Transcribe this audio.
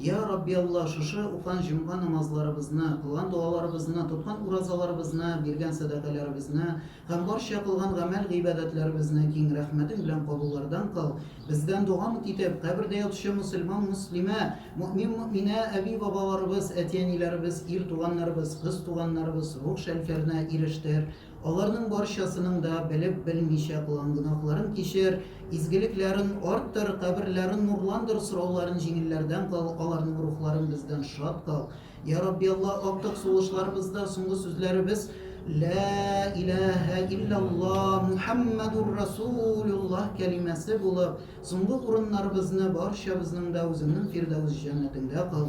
Йа Рабби Алла, шушы укыган җомга намазларыбызны, кылган догаларыбызны, тоткан уразаларыбызны, биргән сәдакаләребезне һәм барча кылган гамәл-гыйбадәтләребезне киң рәхмәтең белән кабуллардан кыл, бездән дога-мут итеп, кабердә ятучы мөселман-мөслимә, мөэмин-мөэминә әби-бабаларыбыз, әти-әниләребез, ир туганнарыбыз, кыз туганнарыбыз рух шәлфәренә ирештер. Аларның барчасының да белеп-белмичә кылган гөнаһларын кичер, изгелекләрен арттыр, каберләрен нурландыр, сорауларын җиңелләрдән кыл, аларның рухларын бездән шат кыл. Йа Рабби Алла, актык сулышларыбызда соңгы сүзләребез Лә иләһә иллялла Мухәммәдүр Расулуллаһ кәлимәсе булып, соңгы урыннарыбызны барчабызның да үзеңнең фирдәвес җәннәтеңдә кыл.